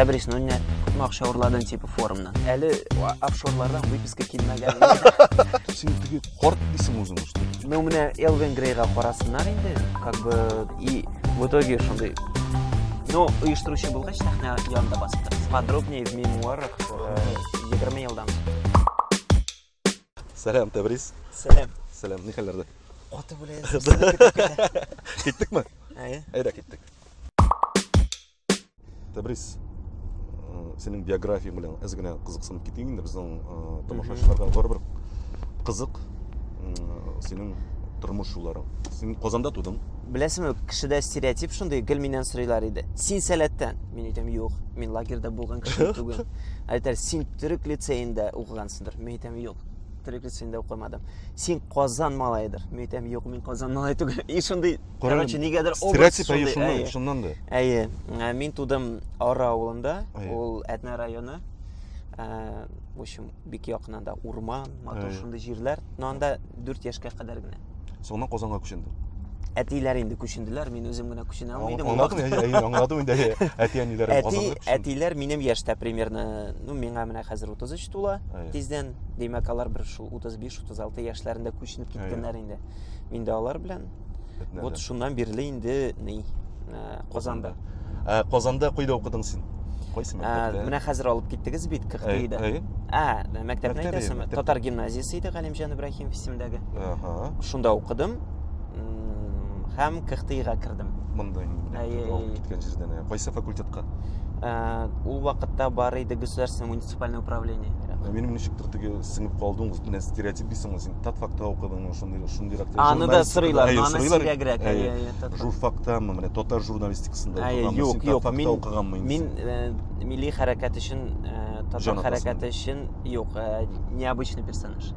Тәбрис, ну не күпме акча урладың типа форумнан? Әле офшорлардан выписка килмәгән. Син теге корт дисең үзең что? Ну менә Элвин Грейга карасыннар инде, как бы и в итоге шундый Ну, оештыручы булгач, сәхнә янында басып торабыз. Подробнее в мемуарах 20 э, елдан. Сәлам, Тәбриз. Сәлам. Сәлам, ни хәлләрдә? Каты белән. Киттекме? Әйе. Әйдә киттек. Тәбриз, синең биографияң белән әз генә кызыксынып китәйек инде безнең тамашачыларга барыбер кызык синең тормыш юлларың. Син Казанда тудың. Беләсеңме, кешедә стереотип шундый, гел миннән сорыйлар иде. Син сәләттән? Мин әйтәм, юк, мин лагерьда булган кеше түгел. Әйтәр, син төрек лицеенда укыгансың. Мөйтәм юк. Триплица инде укымадым. Син Казан малайыдыр. Мөйтәм юк, мин Казан малай түгел. И шундый, короче, нигәдер образ шундый. Шуннан, шуннан да. Әйе. Ә, мин тудым Ара авылында. Ул Әтнә районы. Ә, в общем, бик якынында урман, матур шундый җирләр. Но анда 4 яшькә кадәр генә. Соңыннан Казанга күченде. Әтиләр инде күченделәр, мин үзем генә күченә алмый идем. Аңладым, әйе, аңладым инде. Әти әниләр Казанга күченде. Әти, әтиләр минем яшьтә примерно, ну, миңа менә хәзер 33 тула тиздән. Димәк, алар бер шул 35-36 яшьләрендә күченеп киткәннәр инде. Мин дә алар белән. Вот шуннан бирле инде ни э, Казанда. Э, Казанда кайда укыдың син? Кайсы э, мәктәптә? Менә хәзер алып киттегез бит КХТИда. Ә, мәктәпне әйтәсезме? Татар гимназиясе иде Галимҗан Ибраһим. Ким исемдәге. Ага. Шунда укыдым. Һәм КХТИга кердем. Монда инде. Алып киткән җирдән. Кайсы факультетка? Ә, ул вакытта бар иде государственное муниципальное управление. Ә минем ничектер теге сеңеп калдың, менә стереотип дисең, син татфакта укыдыңмы, шундый шундыйрак. Аны да сырыйлар, аны сирәгрәк. Журфактамы, менә татар журналистикасында укыган. Юк, юк, мин укыганмын. Мин э, милли хәрәкәт өчен, э, татар хәрәкәте өчен юк, э, необычный персонаж.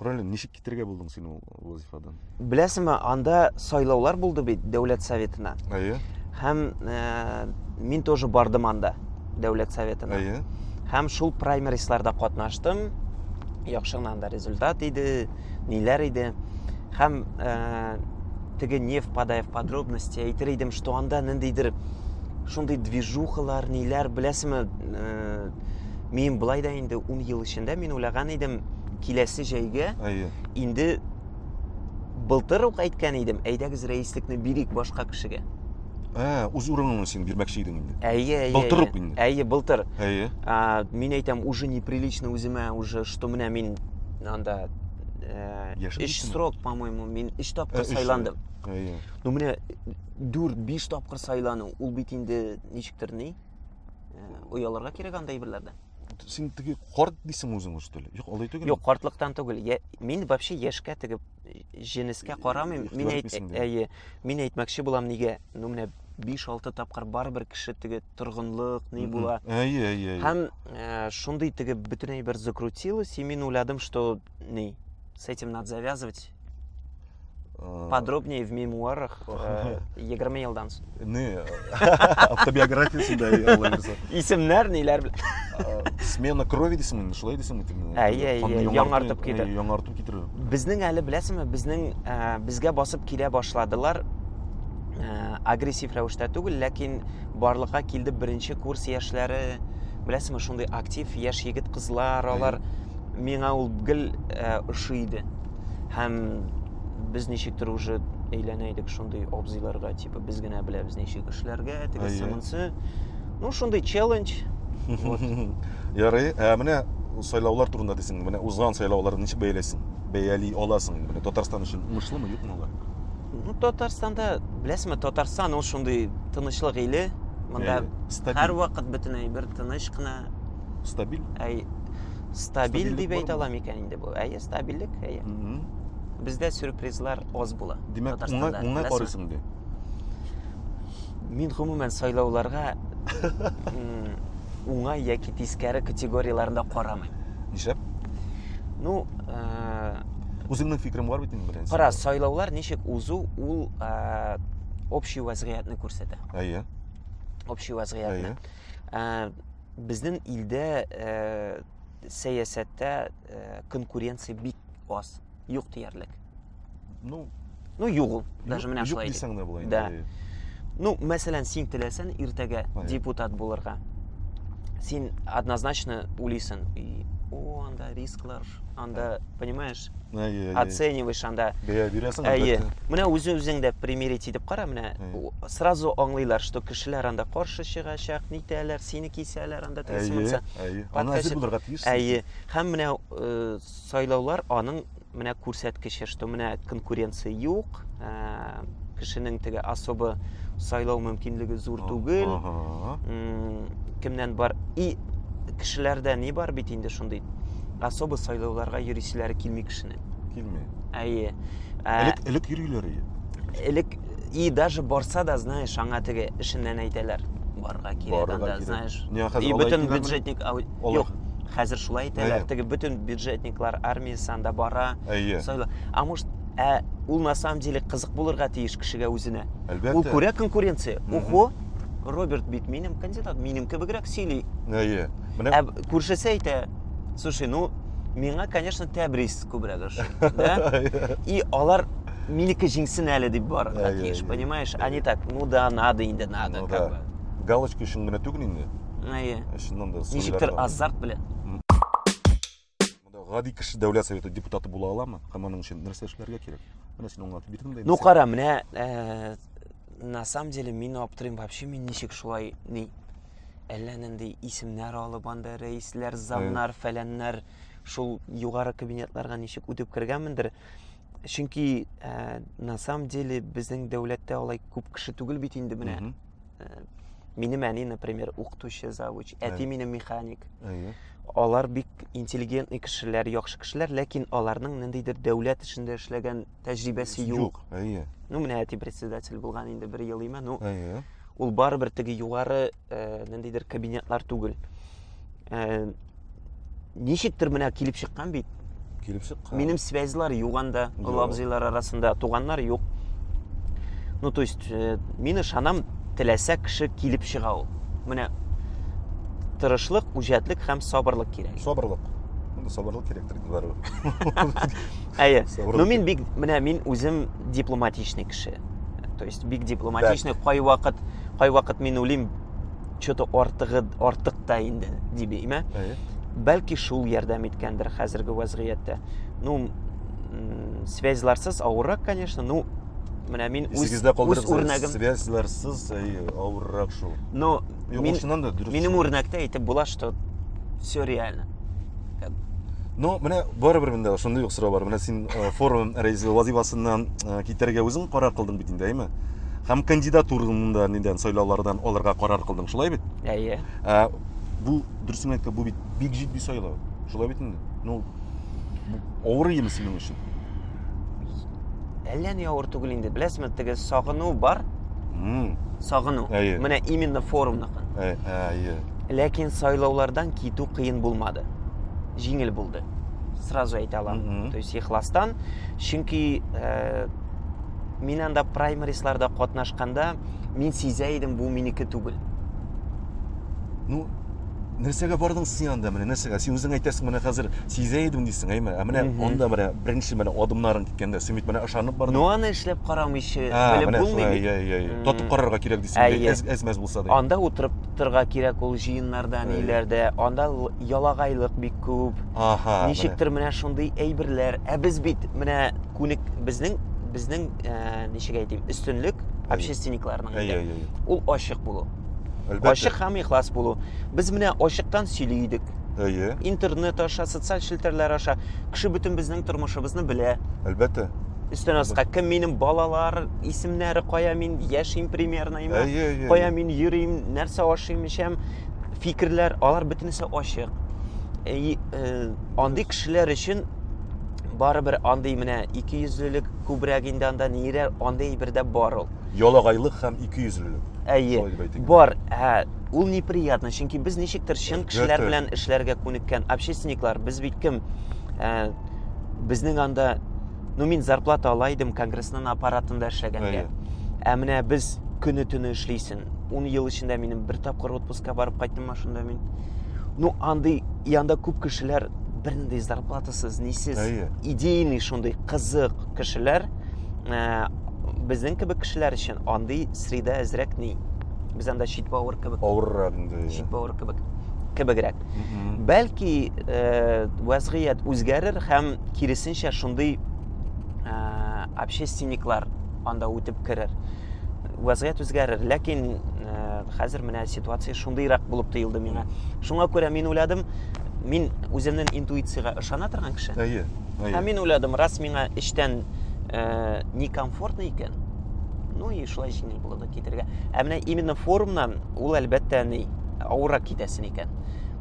Ролен ничек китерергә булдың син ул вазифадан? Беләсеңме, анда сайлаулар булды бит дәүләт советына. Әйе. Һәм э, мин тоже бардым анда дәүләт советына. Әйе. Һәм шул праймерисларда катнаштым. Яхшы гына анда результат иде, ниләр иде. Һәм э, теге не впадая в подробности әйтер идем, что анда ниндидер шундый движухалар, ниләр, беләсеңме, э, мин былай да инде 10 ел эчендә мин уйлаган идем, Киләсе җәйгә Әйе. инде былтыр ук әйткән идем, әйдәгез рәислекне бирик башка кешегә. Ә, үз урыныңны син бирмәкче идең инде. Әйе, әйе. Былтыр ук инде. Әйе, былтыр. Әйе. А, мин әйтәм, уже неприлично үземә уже, что менә мин анда э, Яшен өч срок, по-моему, мин өч тапкыр э, сайландым. Әйе. Ну менә 4-5 тапкыр сайлану, ул бит инде ничектер ни? Э, ояларга кирәк анда әйберләрдән. син теге карт дисең үзең уже что ли юк алай түгел юк картлыктан түгел я, мин вообще яшькә теге җенескә карамыйм мин әйт әйе мин әйтмәкче булам нигә ну менә биш алты тапкыр барыбер кеше теге торгынлык ни була әйе әйе әйе һәм э, шундый теге бөтенләй бер закрутилось и мин уйладым что ни с этим надо завязывать Э, подробнее в мемуарах э, егерме елдан соң не автобиографиясында алла бирса исемнәр ниләр э, смена крови дейсеңме инде шулай дейсеңме тиме әйе әйе яңартып китә яңарту китерү безнең әле беләсеңме безнең безгә басып килә башладылар агрессив рәвештә түгел ләкин барлыкка килде беренче курс яшьләре беләсеңме шундый актив яшь егет кызлар алар миңа ул гел э, ошый иде һәм без ничектер уже әйләнә идек шундый абзыйларга типа без генә беләбез ничек эшләргә тегесе монсы ну шундый челлендж ярый ә менә сайлаулар турында дисең менә узган сайлаулар ничек бәяләйсең бәяли аласың менә татарстан өчен уңышлымы юкмы алар ну татарстанда беләсеңме татарстан ул шундый тынычлык иле мында һәрвакыт бөтен әйбер тыныч кына стабиль әй стабиль дип әйтә алам икән инде бу әйе стабильлек әйе бездә сюрпризлар аз була димәк уңай уңай карыйсың ди мин гомумән сайлауларга уңай яки тискәре категорияләрендә карамыйм нишләп ну э, үзеңнең фикерең бар бит инде беренче кара сайлаулар ничек узу ул э, общий вазгыятьне күрсәтә әйе общий вазгыятьне э, Безнең илдә э, сәясәттә э, конкуренция бик аз, юк диярлек. Ну, Ну юк ул, даже менә юк шулай. дисәң дә була Да. инде. Ну, мәсәлән, син теләсән иртәгә Ага. депутат булырга. Син однозначно уйлыйсың, и, о, анда рисклар, анда, понимаешь, оцениваешь анда бәя бирәсең әйе менә үз үзең дә примерить итеп кара менә сразу аңлыйлар что кешеләр анда каршы чыгачак нитәләр сине кисәләр анда әйе әйе аны әзер булырга тиеш әйе һәм менә э, сайлаулар аның менә күрсәткече что менә конкуренция юк э, кешенең теге особо сайлау мөмкинлеге зур түгел кемнән бар и кешеләрдә ни бар бит инде шундый особо сайлауларга йөрисиләре килми кешенең килми әйе элек элек йөриләр элек и даже барса да знаешь аңа теге эшеннән әйтәләр барырга кирәк анда знаешь и бөтен бюджетник юк хәзер шулай әйтәләр теге бөтен бюджетниклар армиясе анда бара әйе а может Ә ул на самом деле кызык булырга тиеш кешегә үзенә. Әлбәттә. Ул күрә конкуренция. Ухо, Роберт бит минем кандидат, минем кебегрәк сөйли. Әйе. Менә Ә күршесе әйтә, слушай, ну, миңа, конечно, Тәбрис күбрәк ошый. Да? И алар минеке җиңсен әле дип барырга Әйе, тиеш, әйе, понимаешь? А не так, ну да, надо инде, надо, ну, как да. бы. Галочка өчен генә түгел инде. Әйе. Чыннан да. Ничектер азарт белән. Монда гади кеше дәүләт советы депутаты була аламы? Һәм аның өчен нәрсә эшләргә кирәк? Менә син аңлатып бирдең дә. Ну кара, менә э, на самом деле мин аптырыйм вообще мин ничек шулай ни әллә нинди исемнәр алып анда рәисләр, замнар, фәләннәр шул югары кабинетларга ничек үтеп кергәнмендер. Чөнки э, на самом деле безнең дәүләттә алай күп кеше түгел бит инде менә. Mm -hmm минем әни например укытучы завуч әти минем механик алар бик интеллигентный кешеләр яхшы кешеләр ләкин аларның ниндидер дәүләт эшендә эшләгән тәҗрибәсе юк әйе ну менә әти председатель булган инде бер ел име ну әйе ул барыбер теге югары э, ниндидер кабинетлар түгел ә, ничектер менә килеп чыккан бит килеп чыккан минем связьлар юк анда олы абзыйлар арасында туганнар юк ну то есть э, мин ышанам теләсә кеше килеп чыга ул менә тырышлык үҗәтлек һәм сабырлык кирәк сабырлык монда сабырлык кирәктер барыбер әйе ну мин бик менә мин үзем дипломатичный кеше то есть бик дипломатичный кайвакыт кайвакыт мин уйлыйм что-то артыгы артык та инде дибим, ә? Бәлки шул ярдәм иткәндер хәзерге вазгыятьтә. Ну, связьларсыз авыррак, конечно, ну, менә мин үз, үз үрнәгем... Связьларсыз авыррак шул. Но мин, минем үрнәктә әйтеп була, что все реально. Ну, менә барыбер монда шундый ук сорау бар. Менә син э, форум рәисе вазифасыннан э, китәргә үзең карар кылдың бит инде, әйме? Һәм кандидатураны да нидән сайлаулардан алырга карар кылдың, шулай бит? Әйе. Ә, бу дөресен әйткәндә, бу бит бик җитди сайлау. Шулай бит инде. Ну, бу авыр иеме синең өчен? Әллә ни авыр түгел инде. Беләсезме, теге сагыну бар, М, сагыну. Әйе. Менә именно форумныкы. ә- Әйе. Ләкин сайлаулардан китү кыен булмады. Җиңел булды. Сразу әйтә алам. Мгм. То есть ихластан, чөнки э, мин анда праймерисларда катнашканда мин сизә идем бу минеке түгел ну нәрсәгә бардың син анда менә нәрсәгә син үзең әйтәсең менә хәзер сизә идем дисең әйме ә менә анда менә беренче менә адымнарың киткәндә син бит менә ышанып бардың ну аны эшләп карамыйча белеп булмый бит иә иә иә тотып карарга кирәк дисең әз әз мәз булса да анда утырып торырга кирәк ул җыеннарда ниләрдә анда ялагайлык бик күп ничектер менә шундый әйберләр ә без бит менә күник безнең безнең ә, ничек әйтим өстенлек общественникларның ул ачык булу Әлбәттә. ачык һәм ихлас булу без менә ачыктан сөйли идек әйе интернет аша социаль челтәрләр аша кеше бөтен безнең тормышыбызны белә әлбәттә өстен аска кем минем балалар исемнәре кая мин яшим примерно әйе кая мин йөрим нәрсә ашыйм эчәм фикерләр алар бөтенесе ачык э, андый кешеләр өчен барыбер андый менә икейөзлелек күбрәк инде анда нирә андый бер дә бар ул ялагайлык һәм икейөзлелек әйе бар ә ул неприятно чөнки без ничектер чын кешеләр белән эшләргә күнеккән общественниклар без бит кем ә, безнең анда ну мин зарплата ала идем конгрессның аппаратында эшләгәнгә ә менә без көне төне эшлисен ун ел эчендә минем бер тапкыр отпускка барып кайттыммы шунда мин ну андый янда күп кешеләр бернинди зарплатасыз нисез идейный шундый кызык кешеләр ә, безнең кебек кешеләр өчен андый среда әзрәк ни без анда чит бавыр кебек авыррак инде чит бавыр кебек кебегрәк бәлки ә, вәзгыять үзгәрер һәм киресенчә шундый ә, общественниклар анда үтеп керер вазгыять үзгәрер ләкин э, хәзер менә ситуация шундыйрак булып тоелды миңа шуңа күрә мин уйладым мин үземнең интуициягә ышана торган кеше әйе әйе ә мин уйладым раз миңа эчтән э, некомфортно икән ну и шулай җиңел булды китергә ә менә именно форумнан ул әлбәттә ни авыррак китәсен икән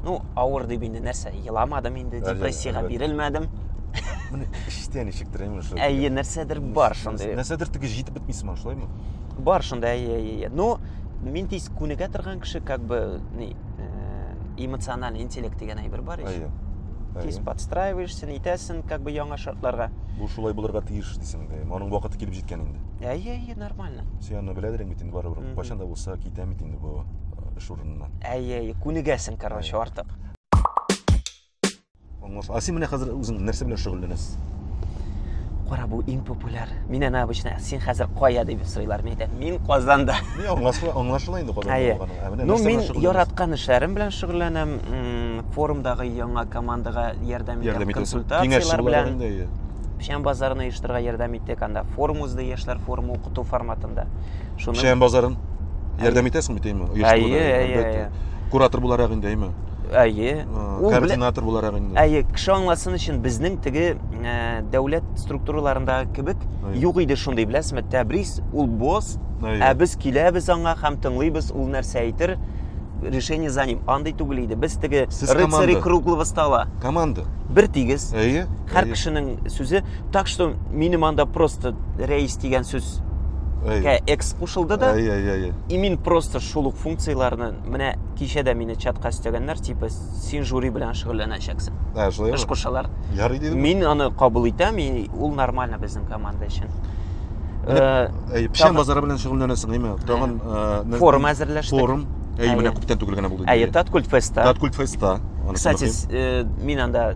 ну авыр дип инде нәрсә еламадым инде депрессиягә бирелмәдем міне іштен ничектер именно әйе нәрсәдер бар шундый нәрсәдер теге җитеп подписанмын шулай ма бар шунда иә иә иә но мен тиз күнегә торган кеше как бы не э, эмоциональный интеллект деген әйбер бар иә, иә. тиз подстраиваешься нетесің как бы яңа шартларга бұл шулай булырга тиеш дисең дә аның вакыты килеп җиткән инде иә иә иә нормально сен аны беләдер бит инде барыбер кайчан да булса китәм бит инде бу э, эш урыныннан әйе әйе күнегәсең короче артык А син менә хәзер үзең нәрсә белән шөгыльләнәсез? Кара, бу иң популяр. Мин ана обычно, син хәзер кая дип сорыйлар. Мин әйтәм, мин Казанда. Мин аңлашыла, аңлашыла инде Казанда Әйе. булганың. Ә менә Ну, нәрсә мин белән шөгыльләнәсез? яраткан эшләрем белән шөгыльләнәм. М, Форумдагы яңа командага ярдәм итәм, Ярдәм итәсез. Киңәшче консультацияләр буларак белән. инде, әйе. Печән базарын оештырырга ярдәм иттек анда. Форум узды, яшьләр форумы укыту форматында. Шуны... Шәйән базарын ярдәм итәсеңме, тиме? Әйе, әйе, әйе. Куратор буларак инде, әйме? Әйе. Координатор буларак инде. Әйе, кеше аңласын өчен безнең теге ә, дәүләт структураларындагы кебек юк иде шундый, беләсезме, Тәбрис ул босс, ә без киләбез аңа һәм тыңлыйбыз, ул нәрсә әйтер, решение за ним. Андый түгел иде. Без теге рыцари круглого стола. Команда. Бер тигез. Әйе. Һәр кешенең сүзе Так что минем анда просто рәис дигән сүз кә экс кушылды да. Әй, әй, әй. И мин просто шул ук функцияләрне менә кичә дә мине чатка өстәгәннәр, типа син жюри белән шөгыльләнәчәксең. Ә, шулай. Эш кушалар. Ярый дидем. Мин аны кабул итәм, и ул нормально безнең команда өчен. Э, әй, печән базары белән шөгыльләнәсең, әйме? Тагын э, форум әзерләштек. Форум. Әй, менә күптән түгел генә булды. Әй, Таткульт феста. Таткульт феста. Кстати, э, мин анда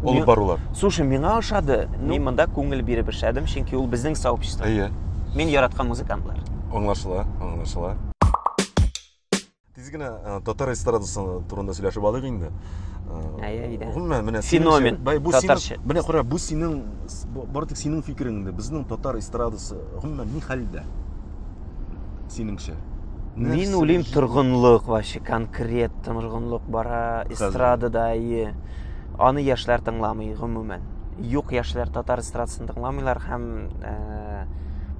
Алып барулар. Слушай, миңа ошады. Ну. Мин монда күңел биреп эшләдем, чөнки ул безнең сообщество. Әйе. Мин яраткан музыкантлар. Аңлашыла, аңлашыла. Тиз генә э, татар эстрадасы турында сөйләшеп алыйк инде. Э, әйе, әйдә. Гомумән, менә феномен. Бай, бу татарча. Синең, менә кара, бу синең бар тик синең фикереңдә. Безнең татар эстрадасы гомумән ни хәлдә? Синеңчә? Мин уйлыйм торгынлык вообще конкрет торгынлык бара эстрадада, әйе. Аны яшьләр тыңламый гомумән. Юк яшьләр татар эстрадасын тыңламыйлар һәм ә,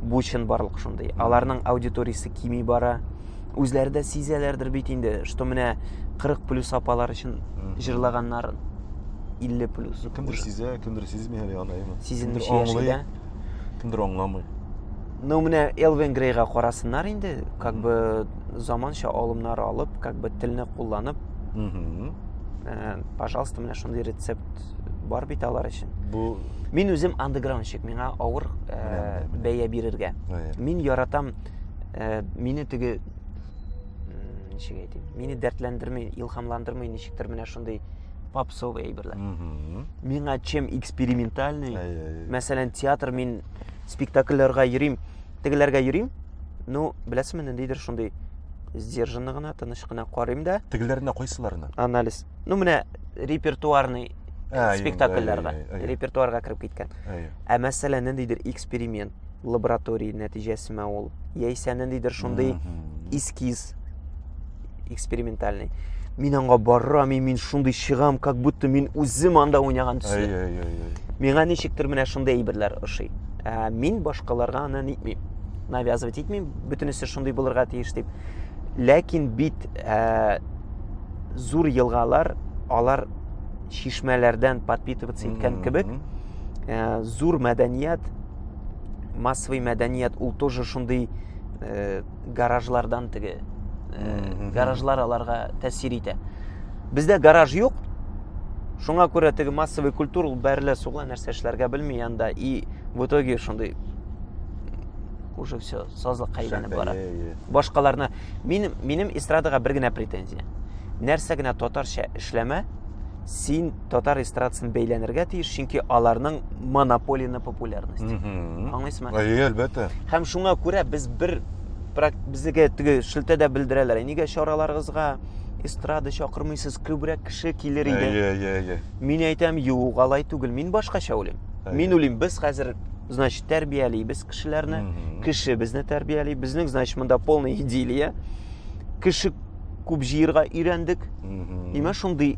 бу чын барлык шундый. Аларның аудиториясе кими бара. Үзләре дә сизәләрдер бит инде, что менә 40 плюс апалар өчен җырлаганнар 50 плюс. Ну, кемдер сизә, кемдер сизми әле аны, әйме. Сизелмичә яши дә. Кемдер аңламый. Ну, менә Элвин Грейга карасыннар инде, как бы заманча алымнар алып, как бы телне кулланып, ә, пожалуйста менә шундый рецепт бар бит алар өчен бу мин үзем андеграундщик миңа авыр ә, бәя бирергә мин яратам ә, мине теге ничек әйтим мине дәртләндерми илһамландырмый ничектер менә шундый попсовый әйберләр миңа чем экспериментальный мәсәлән театр мин спектакльләргә йөрим Тегеләргә йөрим. Ну, беләсезме, ниндидер шундый сдержанно гына, тыныч кына карыйм да. Тегеләренә кайсыларына? Анализ. Ну, менә репертуарный ә, спектакльләргә, ә, ә, ә, репертуарга кереп киткән. Ә, ә. ә мәсәлә, ниндидер эксперимент, лаборатория нәтиҗәсеме ул? Яисә ниндидер шундый эскиз, экспериментальный мин аңа барам и мин шундый чыгам как будто мин үзем анда уйнаган төсле миңа ничектер менә шундый әйберләр ошый ә, мин башкаларга аны нитмим навязывать итмим бөтенесе шундый булырга тиеш дип ләкин бит ә, зур елгалар алар шишмәләрдән подпитываться иткән кебек ә, зур мәдәният массовый мәдәният ул тоже шундый э, гаражлардан теге э, гаражлар аларга тәэсир итә бездә гараж юк шуңа күрә теге массовый культура ул бәрелә сугыла нәрсә эшләргә белми анда и в итоге шундый уже все сазлыкка әйләнеп бара башкаларны мин минем эстрадага бер генә претензия нәрсә генә татарча эшләмә син татар эстрадасын бәйләнергә тиеш, чөнки аларның монополия на популярность. Аңлыйсызмы? Әйе, әлбәттә. Һәм шуңа күрә без бер безгә теге шелтәдә белдерәләр. Нигә чараларыгызга эстрада чакырмыйсыз, күбрәк кеше килер иде. Әйе, әйе, әйе. Мин әйтәм, юк, алай түгел. Мин башкача уйлыйм. Мин уйлыйм, без хәзер значит, тәрбиялибез кешеләрне, кеше безне тәрбияли, безнең, значит, монда полная идиллия. Кеше Күп җыерга өйрәндек. Имә шундый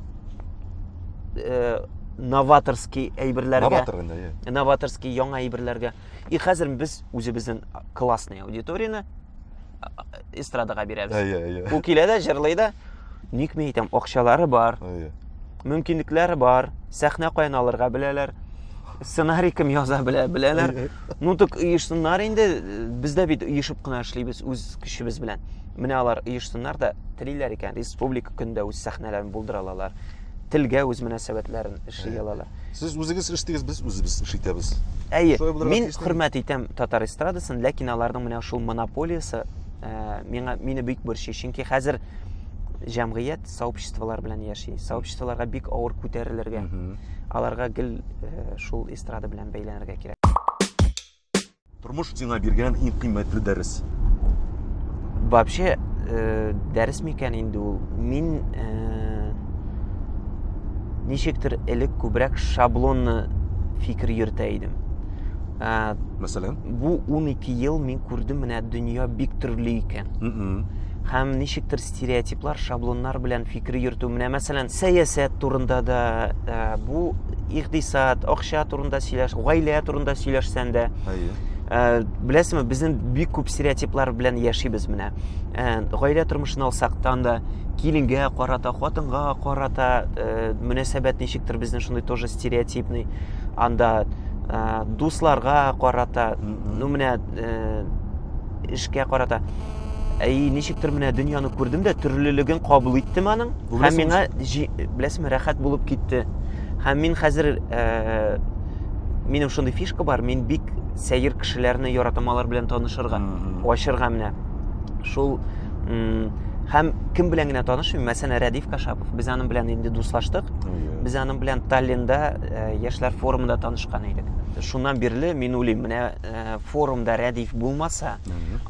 э, новаторский әйберләргә. Новатор инде, иә. Новаторский яңа әйберләргә. И хәзер без үзебезнең классный аудиторияне эстрадага бирәбез. Иә, иә. Ул килә дә, җырлый да. Никме әйтәм, акчалары бар. Иә. мөмкинлекләре бар, сәхнә каян алырга беләләр, сценарий кем яза белә, беләләр. Ну так оешсыннар инде, без дә бит оешып кына эшлибез үз көчебез белән. Менә алар оешсыннар да телиләр икән, республика көндә үз сәхнәләрен булдыра алалар. Телгә үз мөнәсәбәтләрен эшли алалар. Сез үзегез эшлисез, без үзебез эш итәбез. Әйе, мин хөрмәт итәм татар эстрадасын, ләкин аларның менә шул монополиясе э, миңа мине бик борчый, чөнки хәзер җәмгыять сообществолар белән яши сообществоларга бик авыр күтәрелергә аларга гел э, шул эстрада белән бәйләнергә кирәк тормыш сиңа биргән иң кыйммәтле дәрес вообще э, дәрес микән инде ул мин э, ничектер элек күбрәк шаблонны фикер йөртә идем ә, мәсәлән бу 12 ел мин күрдем менә дөнья бик төрле икән һәм ничектер стереотиплар, шаблоннар белән фикер йөртү. Менә мәсәлән, сәясәт турында да, ә, бу икъдисад, акча турында сөйләш, гаилә турында сөйләшсән дә. Әйе. Ә, беләсеңме, безнең бик күп стереотиплар белән яшибез менә. Ә, гаилә тормышын алсактан да киленгә карата, хатынга карата ә, мөнәсәбәт ничектер безнең шундый тоже стереотипный. Анда ә, дусларга карата, ну менә эшкә карата әй ничектер менә дөньяны күрдем дә төрлелеген кабул иттем аның һәм миңа беләсеңме рәхәт булып китте һәм мин хәзер ә, минем шундый фишка бар мин бик сәер кешеләрне яратам алар белән танышырга ачырга менә шул һәм кем белән генә танышмыйм мәсәлән рәдиф кашапов без аның белән инде дуслаштык без аның белән таллинда яшьләр форумында танышкан идек шуннан бирле мин уйлыйм менә Э, форумда рәдиф булмаса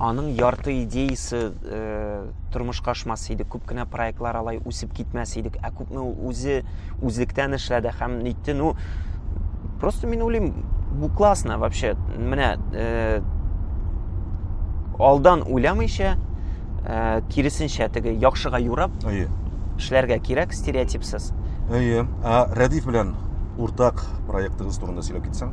аның ярты идеясы э, тормышка ашмас иде күп кенә проектлар алай үсеп китмәс идек ә күпме үзе үзлектән эшләде һәм нитте ну просто мин уйлыйм бу классно вообще менә э, алдан уйламыйча э, киресенчә теге яхшыга юрап әйе эшләргә кирәк стереотипсыз әйе ә рәдиф белән уртак проектыгыз турында сөйләп китсәң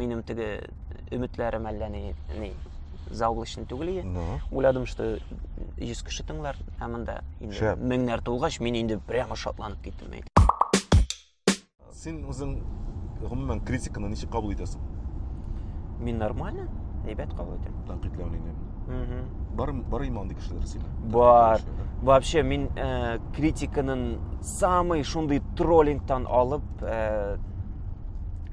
Минем теге өметләрем әллә ни, ни заоблачный түгел ие. Ну. Уйладым, что 100 кеше тыңлар, ә монда инде Шәп. меңнәр тулгач, мин инде прямо шатланып киттем. әйт. Син үзең гомумән критиканы ничек кабул итәсең? Мин нормально, әйбәт кабул итәм. Тәнкыйтьләүне. Мгм. Бар бар има андый кешеләр сине. Бар. Тәнкыйтьләүче, да? Вообще, мин э, критиканын самый шундый троллингтан алып э,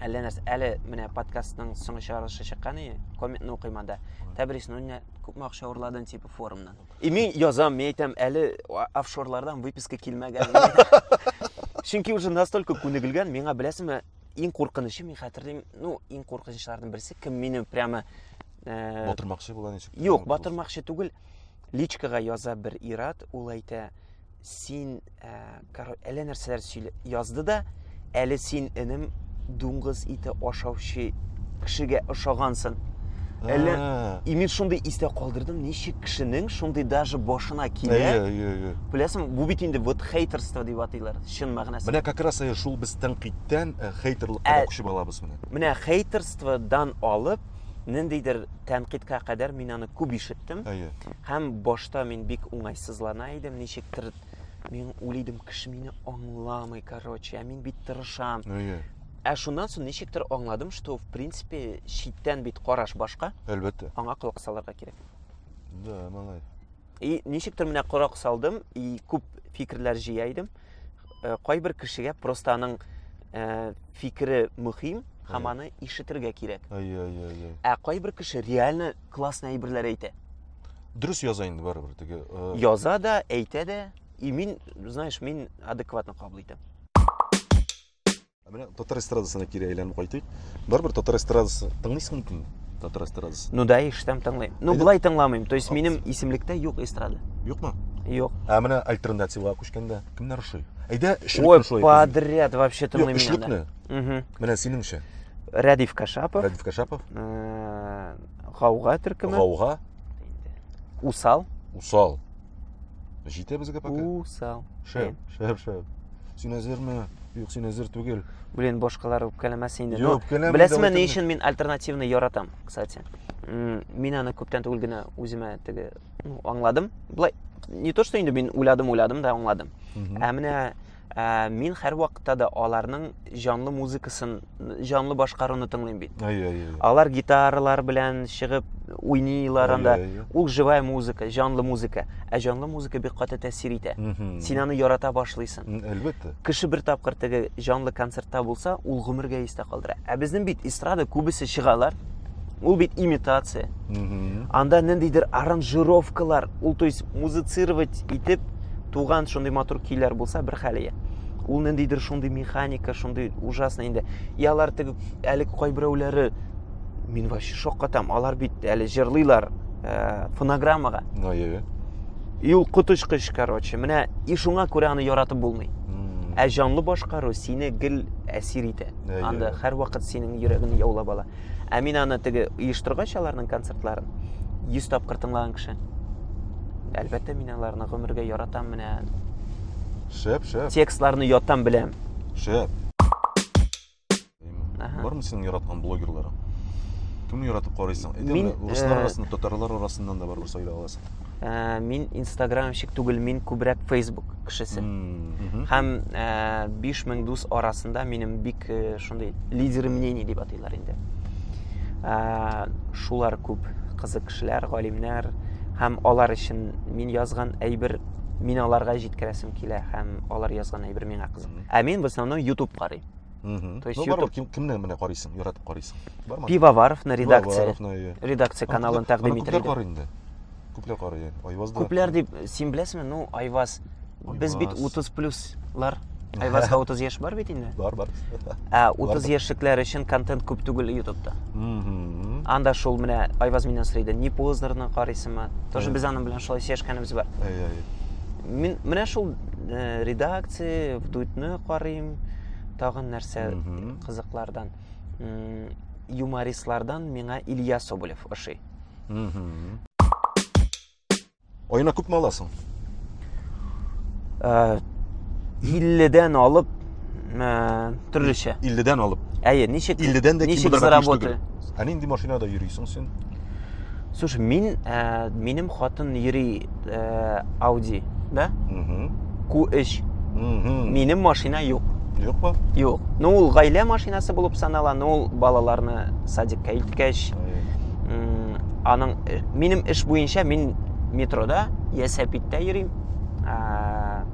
Әллә нәрсә, әле менә подкастның соңгы чыгарылышы чыккан и, комментны укыйм анда. Тәбрис, ну не күпме акча урладың типа форумнан. И мин язам, мин әйтәм, әле а- офшорлардан выписка килмәгән. Чөнки уже настолько күнегелгән, миңа беләсеңме, иң куркынычы мин хәтерлим, ну, иң куркынычларның берсе кем мине прямо э, Батырмакчы була ничек? Юк, батырмакчы түгел. Личкага яза бер ират, ул әйтә, Син, ә, король, әллә нәрсәләр сөйлә, язды да, әле син, энем, дуңгыз ите ашаучы кешегә ошагансын. Әллә, и мин шундый истә калдырдым, ничек кешенең шундый даже башына килә. Әйе, әйе, әйе. Беләсең, бу бит инде вот хейтерство дип атыйлар, чын мәгънәсендә. Менә как раз шул без тәнкыйтьтән э, хейтерлыкка ә, күчеп алабыз менә. Менә хейтерстводан алып, ниндидер тәнкыйтькә кадәр мин аны күп ишеттем. Әйе. Һәм башта мин бик уңайсызлана идем, ничектер мин уйлыйдым, кеше мине аңламый, короче, ә мин бит тырышам. Әйе. Ә шуннан соң ничектер аңладым, что в принципе читтән бит караш башка. Әлбәттә. Аңа колак салырга кирәк. Да, малай. И ничектер менә корак салдым, и күп фикерләр җыя идем. Э, кайбер кешегә просто аның э, фикере мөһим һәм аны ишетергә кирәк. Әйе, әйе, әйе. Ә кайбер кеше реально классный әйберләр әйтә. Дөрес яза инде барыбер теге. Э, яза да, әйтә дә. И мин, знаешь, мин адекватно кабул итәм. Ә менә татар эстрадасына кире әйләнеп кайтыйк. Барыбер татар эстрадасы тыңлыйсың микән? Татар эстрадасы. Ну да, иштәм тыңлыйм. Ну, былай тыңламыйм. То есть минем исемлектә юк эстрада. Юкмы? Юк. Ә менә альтернативага күчкәндә кемнәр ошый? Әйдә, эшлекне шулай. Ой, подряд вообще тыңлыйм. Эшлекне. Менә синеңчә. Рәдиф Кашапов. Рәдиф Кашапов. Э, Гауга төркеме. Гауга. Усал. Усал. Җитә безгә пока. Усал. Шәп, шәп, шәп. Син әзерме? Юк, син әзер түгел. Блин, башкалар үпкәләмәс инде. Юк, үпкәләмә. Беләсезме, ни өчен мин альтернативны яратам, кстати. Мин аны күптән түгел генә үземә теге ну, аңладым. Былай не то, что инде мин уйладым, уйладым да аңладым. Ә менә Ә, мин һәрвакытта да аларның җанлы музыкасын, җанлы башкаруны тыңлыйм бит. Әйе, әйе. Алар гитаралар белән чыгып уйныйлар анда. Ул живая музыка, җанлы музыка. Ә җанлы музыка бик каты тәэсир итә. Син аны ярата башлыйсың. Әлбәттә. Кеше бер тапкыр теге җанлы концертта булса, ул гомергә истә калдыра. Ә безнең бит эстрада күбесе чыгалар, Ул бит имитация. Анда ниндидер аранжировкалар, ул то есть музыцировать итеп туган шундый матур көйләр булса бер хәле. Ул ниндидер шундый механика, шундый ужасный инде. И алар теге әлек кайберәүләре мин вообще шаккатам. Алар бит әле җырлыйлар э, фонограммага. Ае. И ул коточкыч, короче. Менә и шуңа күрә аны яратып булмый. Ә җанлы башкару сине гел әсир итә. Анда һәрвакыт синең йөрәгеңне яулап ала. Ә мин аны теге оештыргач аларның концертларын 100 тапкыр тыңлаган кеше. Әлбәттә, мин аларны гомергә яратам менә. Шәп, шәп. Текстларны ятам беләм. Шәп. Бармы синең яраткан блогерларың? Кемне яратып карыйсың? Мин руслар э, арасында, татарлар арасыннан да барыбер сайлап аласың. ә, мин инстаграмщик түгел мин күбрәк фейсбук кешесе һәм ә, 5000 дус арасында минем бик ә, шундый лидеры мнений дип атыйлар инде ә, шулар күп кызык кешеләр галимнәр һәм алар өчен мин язган әйбер мин аларга җиткерәсем килә һәм алар язган әйбер миңа кызык ә мин в основном ютуб карыйм Мгм. То есть Ну, бар YouTube- ким, кимне менә карыйсың, яратып карыйсың. Бармы? Пивоваровны редакция, Пивоваровны, иә. редакция Аны каналын күпләр- тәкъдим аны итер Күпләр иде. карый инде. Күпләр карый яни. Айвазда. Күпләр дип, син беләсеңме? Ну, Айваз, без бит Айваз. 30 плюслар. Айвазга 30 яшь бар бит инде. Бар, бар. Ә 30 Бар. яшьлекләр өчен контент күп түгел YouTube'да. Мгм. Анда шул менә Айваз миннән сорый иде, не познерны карыйсыңмы? Тоже Иә. без аның белән шулай сөйләшкәнебез бар. Әй, әй. Мин менә шул э, редакция, вдуйтны карыйм, тагын нәрсә кызыклардан юмористлардан миңа илья соболев ошый аена күпме аласың э, илледән алып э, төрлечә илледән алып әйе ничек илледән дә ничек заработать Ә нинди машинада йөрисең син? Слушай, мин, ә, минем хатын йөри ә, Audi, да? Угу. Q3. Угу. Минем машина юк. Юкмы? Юк. Ну, ул гаилә машинасы булып санала, ну, ул балаларны садикка илткәч, аның э, минем эш буенча мин метрода, ясәпиттә йөрим.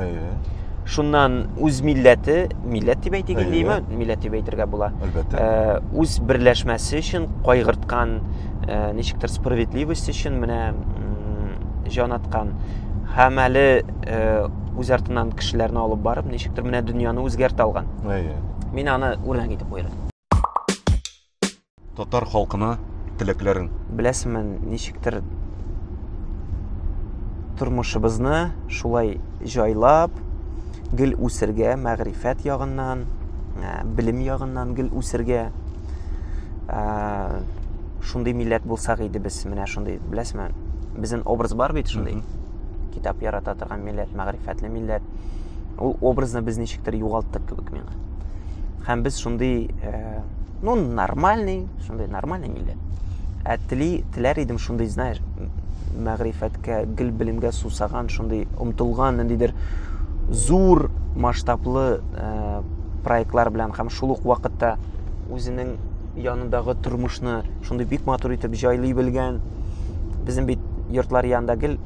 Әйе. Шуннан үз милләте, милләт дип әйтик инде, яме, милләт дип әйтергә була. Әлбәттә. Э, үз берләшмәсе өчен кайгырткан, э, ничектер справедливость өчен менә җан аткан һәм әле э, үз артыннан кешеләрне алып барып, ничектер менә дөньяны үзгәртә алган. Әйе. Мин аны үрнәк итеп куйдым. Татар халкына теләкләрең. Беләсеңме, ничектер тормышыбызны шулай җайлап, гел үсергә, мәгърифәт ягыннан, ә, белем ягыннан гел үсергә. Ә, шундый милләт булсак иде без, менә шундый, беләсеңме? Безнең образ бар бит шундый. Китап ярата торган милләт, мәгърифәтле милләт. Ул образны без ничектер югалттык кебек миңа. Һәм без шундый, э, ну, нормальный, шундый нормальный милләт. Ә тели, теләр идем шундый, знаешь, мәгърифәткә, гел белемгә сусаган, шундый омтылган, ниндидер зур масштаблы э, проектлар белән һәм шул ук вакытта үзенең Янындагы тормышны шундый бик матур итеп җайлый белгән. Безнең бит йортлар янында гел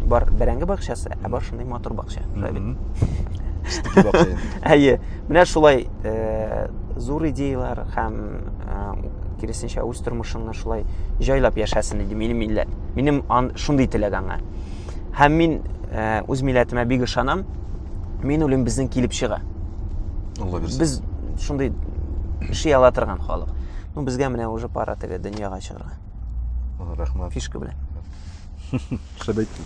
бар бәрәңге бакчасы, ә бар шундый матур бакча. Әйе. Менә шулай э, зур идеялар һәм э, киресенчә үз тормышыңны шулай җайлап яшәсен иде минем милләт. Минем шундый теләк аңа. Һәм мин э, үз милләтемә бик ышанам. Мин үлем безнең килеп чыга. алла бирсен без шундый эши ала торган халык ну безгә менә уже пара теге дөньяга чыгарга рәхмәт фишка белән шәп әйттең